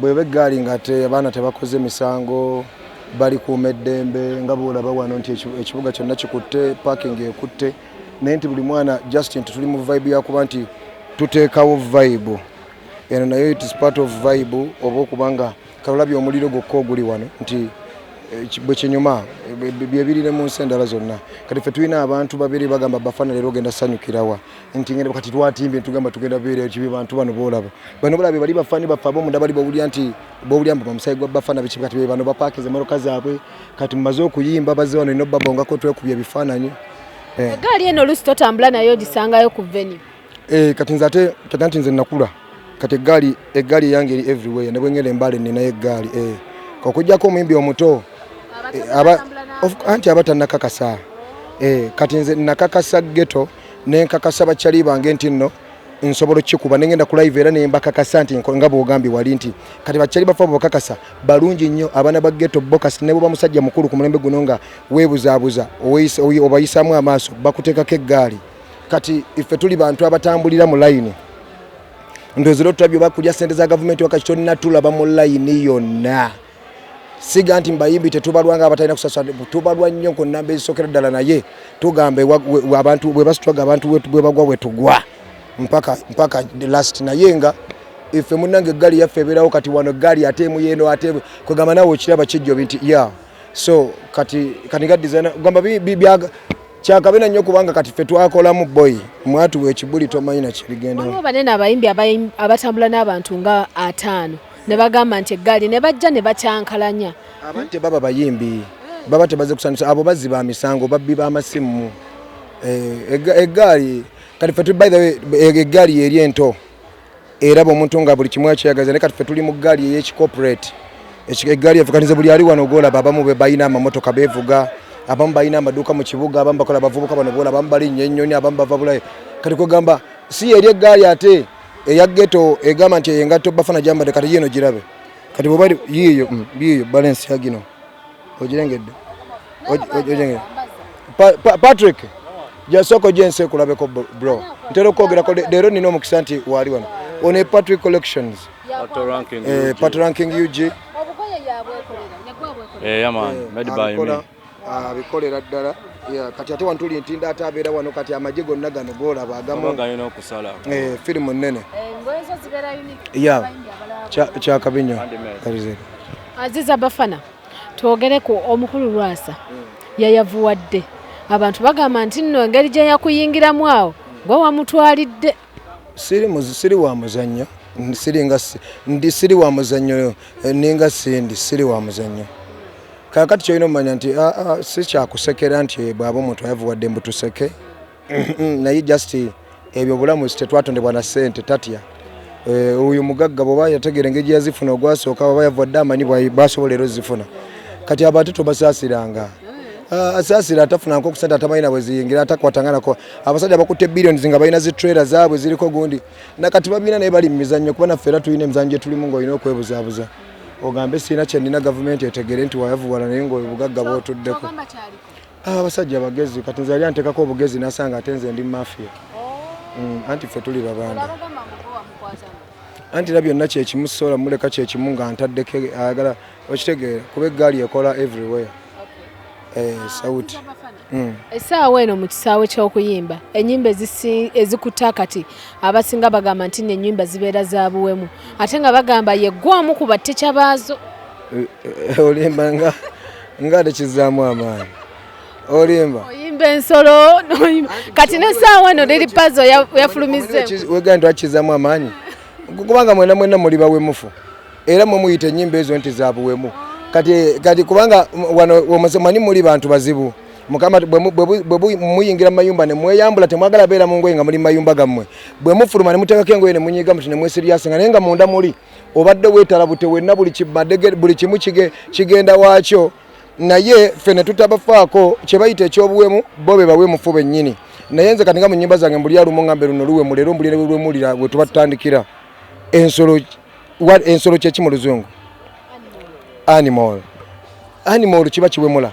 bweba eggaali nga te abaana tebakoze misango bali kuuma eddembe nga bwolaba wano nti ekibuga kyonna kikutte parking ekutte naye nti buli mwana just nti tuli mu vibe yakuba nti tuteekawo vibe Eno nayo it is part of vibe oba okuba nga kalabye omuliro gwokka oguli wano nti eh, bwe kinyuma eh, byebirire mu nsi endala zonna kati ffe tulina abantu babiri bagamba bafana leero ogenda sanyukirawa nti ngenda kati twatimbye tugamba tugenda beera kibi bantu bano boolaba bano balabe bali bafani baffe abomunda bali bawulira nti bawulira mbu bamusayi gwa bafana biki kati bano bapakiza emmotoka zaabwe kati mumaze okuyimba bazze wano ino babongako twekubya ebifaananyi egaali eh. eno oluusi totambula nayo ogisangayo ku venue eh kati nze ate kati anti nze nakula kati eggaali eggaali eyange eri everywhere ne bwengenda embaale nninayo eggaali eh okujjako omuyimbi omuto eh, aba anti aba tannakakasa eh kati nze nakakasa ghetto ne nkakasa bakyali bange nti nno nsobola okikuba ne ngenda ku live era ne mbakakasa nti nga bwogambye wali nti kati bakyali bafa bokakasa balungi nnyo abaana ba ghetto bokas ne bwoba musajja mukulu ku mulembe guno nga weebuzaabuza obayisaamu amaaso bakuteekako eggaali kati iffe tuli bantu abatambulira mu layini ndozira otulabye oba kulya sente za gavumenti wakati tolina tulaba mu layini yonna siga nti mbayimbi tetubalwa nga abatalina kusasa tubalwa nnyo ku namba ezisookera ddala naye tugamba abantu bwe basitwaga abantu bwe bagwa bwe tugwa mpaka mpaka last naye nga ife munange eggaali yaffe ebeerawo kati wano eggaali ate emu yeeno ate kwegamba nawe okiraba kijjobi nti ya so kati kati nga designer gamba kyakabina nnyo kubanga kati ffe twakolamu boyi mwatuwa ekibuli tomanyi nakibigendao banene abayimbi abatambula n'abantu nga ataano ne bagamba nti eggaali ne bajja ne bakyankalanya aba tebaba bayimbi baba tebaze kusanyusa abo bazzi ba misango babbi b'amasimu eh, eggaali kati ffe by the way eggaali yeri ento eraba omuntu nga buli kimu akyeyagaza naye kati ffe tuli mu ggaali ey'ekicorporate eggaali yaffe kati nze buli ali wano ogwolaba abamu be balina amamotoka beevuga abamu balina amaduuka mu kibuga abamu bakola abavubuka bano bola abamu balinnya ennyonyi abamu bava bulayi kati kwegamba si eri eggaali ate eya geto egamba nti eyengatto bafana gyambadde kati yiino girabe kati bwebayiiyo mm, yiiyo balensi yagino ogirengedde ogirengedde patrick jasoko jensi ekulabeko bro ntera okwogerako leero nina omukisa nti waali wano one patrick collections eh, pat ranking ug eh, eh, abikolera ddala kati ate wantuli ntinda ate abeera wano kati amagye gonna gano golaba agamu firimu nnene kyakabi nyo Aziza Bafana, twogere ku omukulu Lwasa yayavuwadde abantu bagamba nti nno engeri gye yakuyingiramu awo gwe wamutwalidde. Siri wa muzannyo ndi siri wa muzannyo eh, ninga sindi siri wa muzannyo kakati kyolina omanya nti ah, ah, sikyakusekera nti eh, bwaba omuntu ayavuwadde mbutuseke naye just ebyo bulamu tetwatondebwa na sente tatya eh, oyo mugagga bwoba yategeera engeri gyeyazifuna ogwasooka oba yavwadde amanyi basobola era ozifuna kati abo ate tobasaasiranga ah, asaasira atafuna nko kusente atamanyi nabwe ziyingira atakwatanganako abasajja bakutte billions nga balina zi trailer zaabwe ziriko gundi nakati babina naye bali mu mizannyo kuba naffe era tulina emizannyo gye tulimu ng'olina okwebuzaabuza ogambe sirina kyenina gavumenti etegere nti wayavuwala naye ngaobugagga bwotuddeko Ah, abasajja bagezi kati nze yali antekako obugezi nasanga ate nze ndi mafia oh. mm, anti ffe tuli babanda anti era byonna kyekimu sola muleka kyekimu nga ntaddeko ayagala okitegeera kuba eggaali ekola everywhere eh, sauti mm. esaawa eno mu kisaawe ky'okuyimba enyimba ezikutta kati abasinga bagamba nti nenyimba zibeera za buwemu ate nga bagamba yeggwamu ku batteca baazo eh, eh, olembanga nga tekizzaamu amaanyi olimba oyimba ensolo kati nesaawa eno liri pazo yafulumizewegani twakizamu amaanyi kubanga mwena mwena muli bawemufu era mwe muyita enyimba ezo nti zabuwemu kati kati kubanga wano omusemanyi muli bantu bazibu mukama bwe muyingira mumayumba nemweyambula temwagala beera mu ngoye nga muli mumayumba gammwe bwe mufuluma ne muteekako engoye ne munyiiga muti ne mwesiryasinga naye nga munda muli obadde wetala bute wenna buli kimadege buli kimu kige kigenda wakyo naye fe ne tutabafaako kye bayita ekyobuwemu bo be bawe mufu bennyini naye nze katinga mu nyimba zange mbuli alumu ngambe luno luwe mu leero mbuli ne lwemulira bwe tuba tutandikira ensolo ensolo kyeki mu luzungu animal animal kiba kiwemula